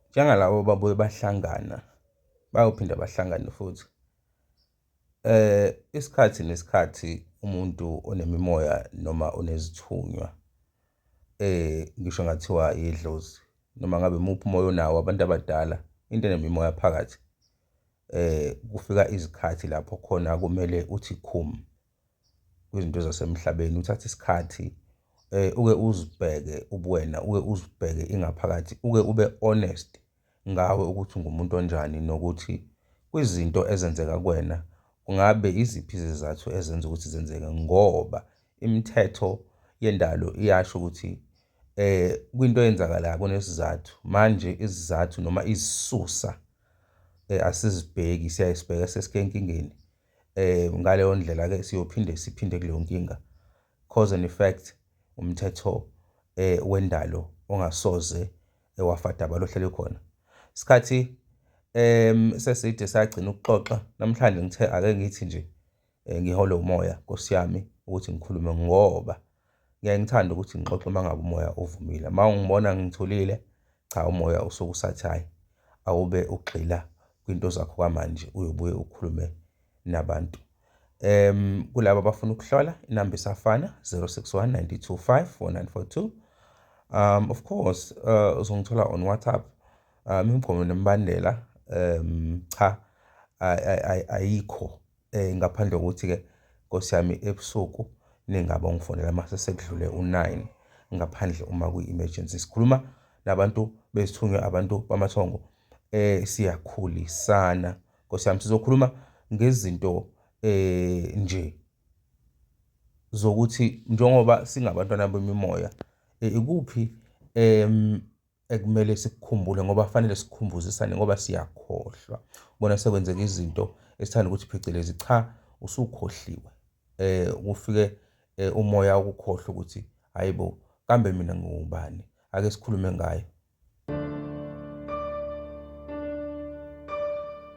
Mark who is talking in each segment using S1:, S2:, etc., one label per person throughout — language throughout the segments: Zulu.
S1: Njengalabo ababuye bahlangana bayophinde bahlangane futhi isikhathi nesikhathi umuntu onemimoya noma onezithunywa ngisho kungathiwa idlozi noma ngabe imuphi umoya onawo abantu abadala into enemimoya phakathi kufika izikhathi lapho khona kumele uthi khum. kwizinto zasemhlabeni uthathe isikhathi uke uzibheke ubuwena, uke uzibheke ingaphakathi, uke ube honest ngawe ukuthi ungumuntu onjani nokuthi kwizinto ezenzeka kuwena kungabe iziphi izizathu ezenza ukuthi zenzeke. Ngoba imithetho yendalo iyasho ukuthi kwinto eyenzakalayo kunesizathu, manje izizathu noma izisusa asizibheki siyaye sibheke sesike enkingeni. um ngaleyo ndlela-ke siyophinde siphinde kuleyo nkinga cause and effect umthetho um wendalo ongasoze wafadaba lohleli khona isikhathi um seside sagcina ukuxoxa namhlanje ngithe ake ngithi nje um ngihole umoya nkosi yami ukuthi ngikhulume ngoba Ngiyaye ngithande ukuthi ngixoxe uma ngabe umoya uvumile. Uma ungibona ngithulile, cha umoya usuke usathayi. Awube ugxila kwinto zakho kwamanje, uyobuye ukhulume nabantu. Um, kulabo abafuna ukuhlola inamba isafana 061 925 4942 um of course uh, uzongithola on whatsapp um imigomo nemibandela um cha ayikho Eh ngaphandle kokuthi ke Nkosi yami ebusuku ningaba ungifonela mase sekudlule u9 ngaphandle uma kuyi emergency. Sikhuluma nabantu besithunywa abantu bamathongo eh siyakhulisana Nkosi yami sizokhuluma ngezinto eh nje zokuthi njengoba singabantwana bemimoya eh, ikuphi em ekumele sikukhumbule ngoba fanele sikhumbuzisane ngoba siyakhohlwa ubona sekwenzeka izinto esithanda ukuthi phecelezi cha usukhohliwe eh kufike eh, umoya ukukhohlwa ukuthi hayibo kambe mina ngiwubani ake sikhulume ngayo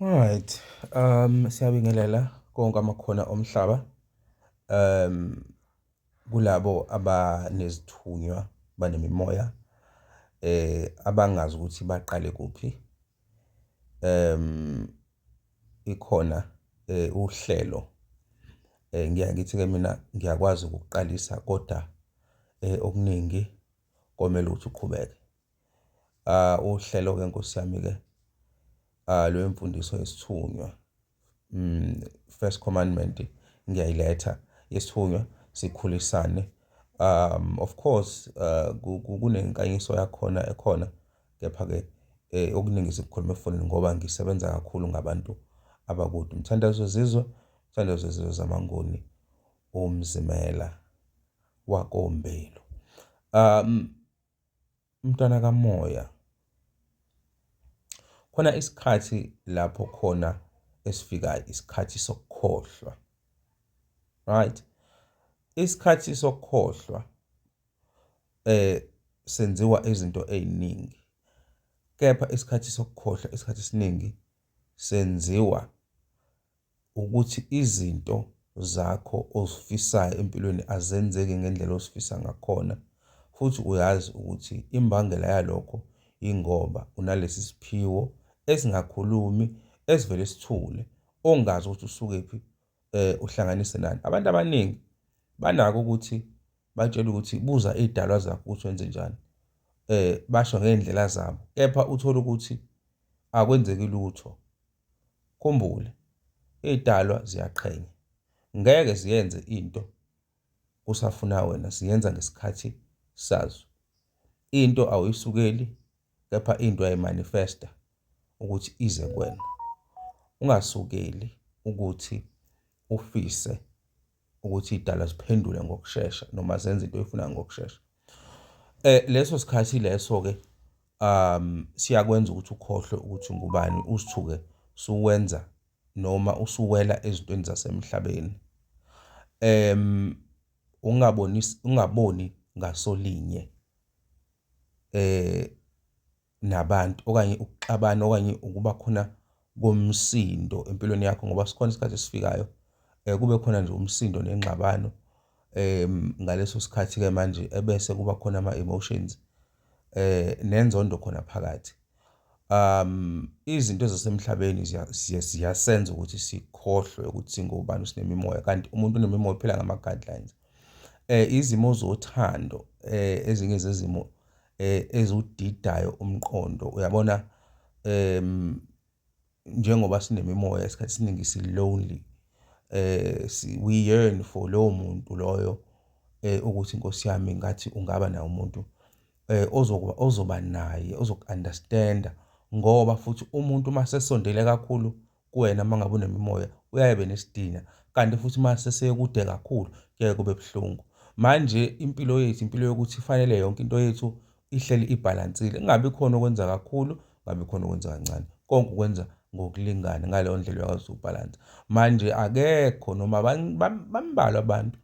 S1: Alright, um siyabingelela konke amakhona omhlaba um kulabo abanezithunywa banemimoya eh abangazi ukuthi baqale kuphi um ikhona eh, uhlelo eh, ngiya ngithi ke mina ngiyakwazi ukuqalisa kodwa eh, okuningi komele ukuthi uqhubeke ah uhlelo ke nkosi yami ke ah lwemfundiso yesithunywa mm first commandment ngiyayiletha yesithunywa sikhulisane um of course ah, kunenkanyiso yakhona ekhona kepha ke eh, okuningi sikukhuluma efonini ngoba ngisebenza kakhulu ngabantu abakude umthandazo zizwe umthandazo zizwe zamanguni umzimela wakoMbelo. Um, mntwana kamoya, khona isikhathi lapho khona esifikayo, isikhathi sokukhohlwa. Right? Isikhathi sokukhohlwa eh senziwa izinto eziningi. Kepha isikhathi sokukhohlwa isikhathi esiningi senziwa ukuthi izinto zakho ozifisayo empilweni azenzeki ngendlela osifisa ngakhona futhi uyazi ukuthi imbangela yalokho ingoba unalesi siphiwo esingakhulumi esivele sithule ongazi ukuthi usuke phi eh uhlanganise nani abantu abaningi banako ukuthi batshela ukuthi buza idalwa zakho ukuthi wenze njani eh basho ngendlela zabo kepha uthola ukuthi akwenzeki lutho Khumbule, izidalwa ziyaqhenya. Ngeke ziyenze into kusafuna wena, ziyenza ngesikhathi sazo. Into awuyisukeli kepha into uyayimanifesta ukuthi ize kuwena. Ungasukeli ukuthi ufise ukuthi idalwa ziphendule ngokushesha noma zenze into oyifunayo ngokushesha eh leso sikhathi leso ke um siyakwenza ukuthi ukhohlwe ukuthi ngubani usithuke suwenza noma usuwela ezintweni zasemhlabeni em ungaboni ungaboni ngasolinye eh nabantu okanye ukuxabana okanye ukuba khona komsindo empilweni yakho ngoba sikhona isikhathi esifikayo eh, kube khona nje umsindo nengxabano um ngaleso sikhathi-ke manje ebese kuba khona ama-emotions eh nenzondo khona phakathi um izinto zasemhlabeni ziyasenza ukuthi sikhohlwe ukuthi singobani sinemimoya kanti umuntu unemimoya uphila ngama-guidelines eh izimo zothando eh ezinye zezimo eh ezudidayo umqondo uyabona em njengoba sinemimoya isikhathi siningi si lonely eh we yearn for lowo muntu loyo eh ukuthi inkosi yami ngathi ungaba naye umuntu eh ozokuba ozoba naye ozokunderstanda ngoba futhi umuntu uma sesondele kakhulu kuwena uma ngabe unemimoya uyaye be nesidina kanti futhi uma sesekude kakhulu kuyaye kube buhlungu manje impilo yethu impilo yokuthi ifanele yonke into yethu ihleli ibhalansile kungabi khona okwenza kakhulu kungabi khona okwenza kancane konke ukwenza ngokulingana ngaleyo ndlela uyakwazi ukubhalansa manje akekho noma bambalwa abantu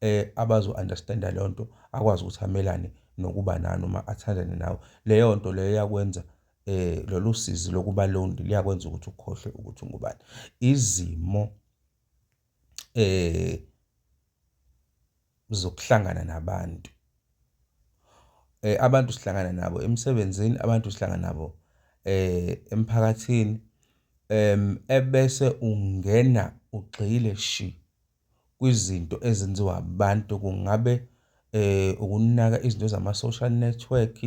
S1: eh abazo-understanda leyo nto akwazi ukuthi amelane nokuba nani uma athandane nawe leyo nto leyo yakwenza eh lolu sizi lokuba lonely liyakwenza ukuthi ukhohlwe ukuthi ungubani izimo eh zokuhlangana nabantu eh abantu sihlangana nabo emsebenzini abantu sihlangana nabo eh emphakathini em ebese ungena ugxile shi kwizinto ezenziwa abantu kungabe ukunaka izinto zama-social network,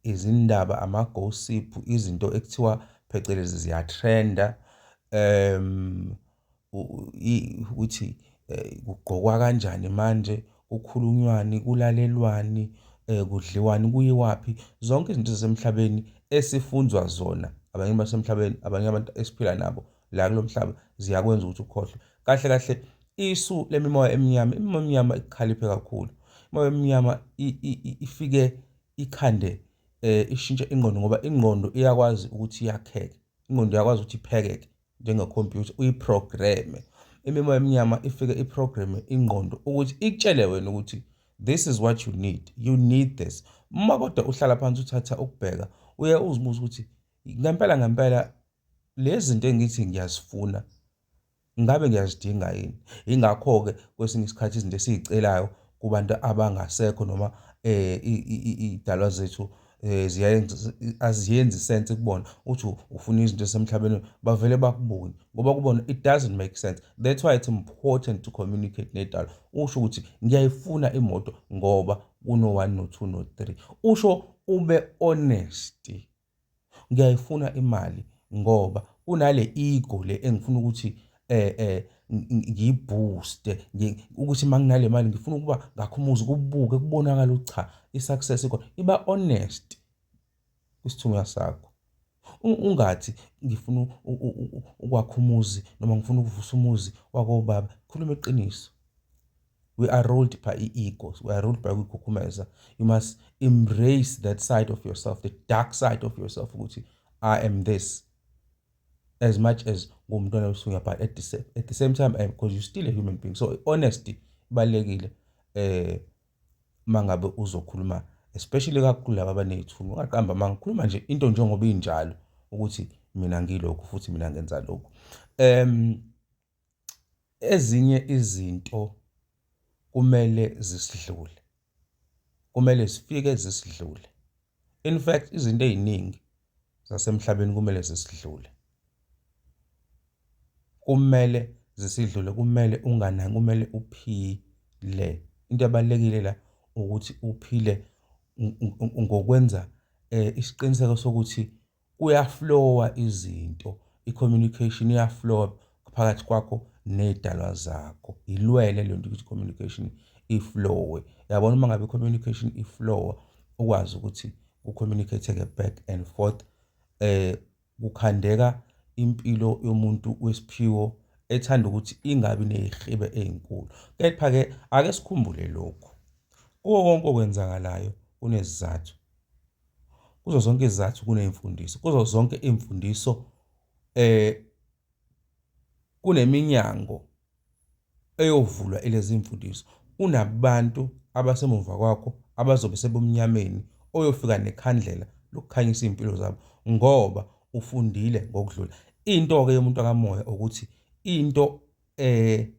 S1: izindaba, ama-gossip, izinto ekuthiwa phecelezi ziyatrenda, um ukuthi kugqokwa kanjani manje, kukhulunywani, kulalelwani, kudliwani, kuyiwaphi. Zonke izinto zasemhlabeni esifundzwa zona abanye basemhlabeni, abanye abantu esiphila nabo. la kulo mhlaba ziyakwenza ukuthi ukhohlwe kahle kahle isu lemimoya emnyama imimoya emnyama ikhaliphe kakhulu imoya emnyama ifike ikhande eh ishintshe ingqondo ngoba ingqondo iyakwazi ukuthi iyakheke ingqondo iyakwazi ukuthi iphekeke njengekhompyutha uyiprogramme imimoya emnyama ifike iprogramme ingqondo ukuthi ikutshele wena ukuthi this is what you need you need this uma kodwa uhlala phansi uthatha ukubheka uye uzibuza ukuthi ngempela ngempela lezi zinto engithi ngiyazifuna ngabe ngiyazidinga yini ingakho-ke kwesinye isikhathi izinto esiyicelayo kubantu abangasekho noma um iy'dalwa zethu eh ziyayenza aziyenzi sense kubona uthi ufuna izinto esemhlabeni bavele bakubone ngoba kubona it doesn't make sense that's why it's important to communicate nedalo usho ukuthi ngiyayifuna imoto ngoba kuno 1 no 2 no 3 usho ube honest ngiyayifuna imali ngoba kunale ego le engifuna ukuthi eh eh ngiyibooste ukuthi uma nginale mali ngifuna ukuba ngakho umuzi kubuke kubonakala ukuthi cha i-success ikhona iba honest kwisithunywa sakho ungathi ngifuna ukwakha umuzi noma ngifuna ukuvusa umuzi wakobaba khuluma iqiniso we are ruled by i-ego we are ruled by ukukhukhumeza you must embrace that side of yourself the dark side of yourself ukuthi i am this as much as ngumntwana wesunya but at the, same, at the same time because eh, you're still a human being so honesty ibalulekile eh mangabe uzokhuluma especially kakhulu laba abanezithunywa ungaqamba mangikhuluma nje into njengoba injalo ukuthi mina ngilokhu futhi mina ngenza lokhu um Ezinye izinto kumele zisidlule, kumele zifike zisidlule. In fact izinto ey'ningi zasemhlabeni kumele zisidlule. Kumele zisidlule, kumele unganaki, kumele uphile. Into ebalulekile la ukuthi uphile ngokwenza isiqiniseko sokuthi kuyaflowa izinto i-communication iyaflowa phakathi kwakho ney'dalwa zakho yilwele le nto ukuthi communication iflowe yabona uma ngabe i-communication iflowa ukwazi ukuthi ku-communicate-ke back and forth eh kukhandeka impilo yomuntu wesiphiwo ethanda ukuthi ingabi nezihibe ezinkulu kepha ke ake sikhumbule lokhu kuwo konke okwenzakalayo kunezizathu kuzo zonke izizathu kuneyimfundiso kuzo zonke imfundiso eh kuneminyango eyovulwa ilezi imfundiso unabantu abasemuva kwakho abazobe sebumnyameni oyofika nekhandlela lokukhanyisa izimpilo zabo ngoba ufundile ngokudlula into ke yomuntu akamoya ukuthi into eh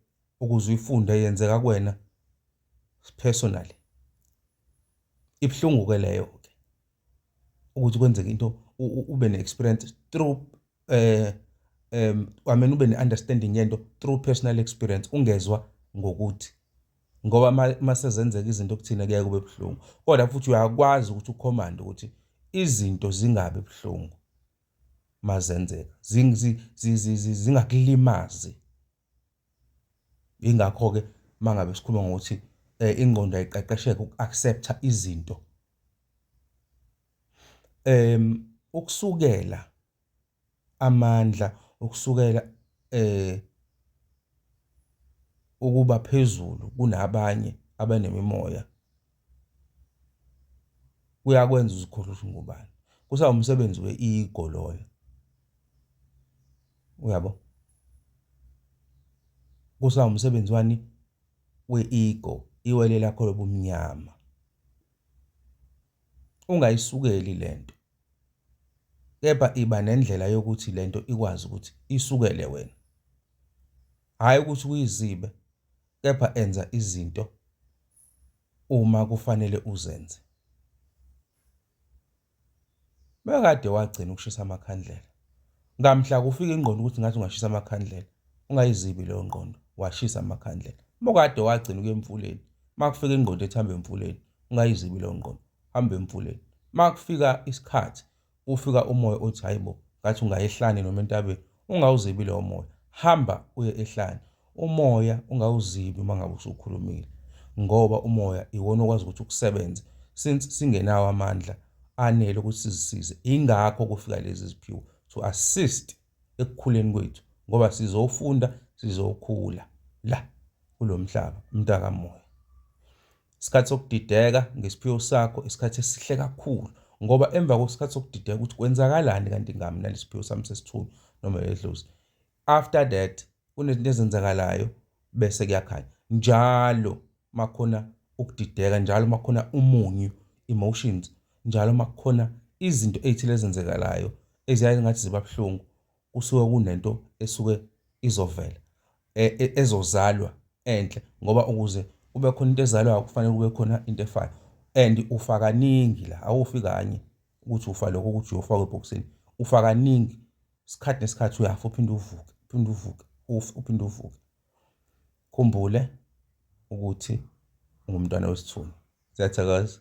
S1: ukuze uyifunde yenzeka kuwena personally ibuhlungu ke leyo ke ukuthi kwenzeke into ube ne experience through eh um I mean ube ne understanding yento through personal experience ungezwa ngokuthi ngoba masezenzeka izinto kuthina kuyaye kube buhlungu kodwa futhi uyakwazi ukuthi ukhomande ukuthi izinto zingabi buhlungu mazenzeka zingakulimazi Ingakho-ke uma ngabe sikhuluma ngokuthi um ingqondo ayiqeqesheke uku-accept-a izinto. Um ukusukela amandla, ukusukela um ukuba phezulu kunabanye abanemimoya. kuyakwenza uzikhohlwe ukuthi ngubani kusawumsebenzi we-ego loyo uyabo kusawumsebenzi wani we-ego iwele lakho lobumnyama ungayisukeli lento kepha iba nendlela yokuthi lento ikwazi ukuthi isukele wena hayi ukuthi uyizibe kepha enza izinto uma kufanele uzenze. Bekade wagcina ukushisa amakhandlela. Ngamhla kufika ingqondo ukuthi ngathi ungashisa amakhandlela. Ungayizibi leyo ngqondo, washisa amakhandlela. Uma kade wagcina ukuya emfuleni, uma kufika ingqondo ethi hambe emfuleni, ungayizibi leyo ngqondo, hambe emfuleni. Uma kufika isikhathi ufika umoya othi hayi bo ngathi ungayehlane noma entabeni ungawuzibi lowo moya hamba uye ehlane umoya ungawuzibi uma ngabe usukhulumile ngoba umoya iwona okwazi ukuthi ukusebenze since singenawo amandla anele ukuthi sizisize ingakho kufika lezi ziphiwo to assist ekukhuleni kwethu ngoba sizofunda sizokhula la kulomhlaba mntaka moya Isikhathi sokudideka ngesiphiwo sakho isikhathi esihle kakhulu ngoba emva kwesikhathi sokudideka ukuthi kwenzakalani kanti ngami nalesiphiwo sami sesithulu noma edlozi after that kunezinto ezenzakalayo bese kuyakhanya njalo makhona ukudideka njalo makhona umunyu emotions njalo makukhona izinto ezithile ezenzekalayo eziyaye ngathi ziba buhlungu kusuke kunento esuke izovela e, e, ezozalwa enhle ngoba ukuze kube khona into ezalwayo kufanele kube khona into efayo and ufa kaningi la awufi kanye ukuthi ufa lokho ukuthi uyofa kwebhokisini ufa kaningi isikhathi nesikhathi uyafa uphinde uvuke uphinde uvuke ufe uphinde uvuke khumbule ukuthi ungumntwana wesithunzi siyathokoza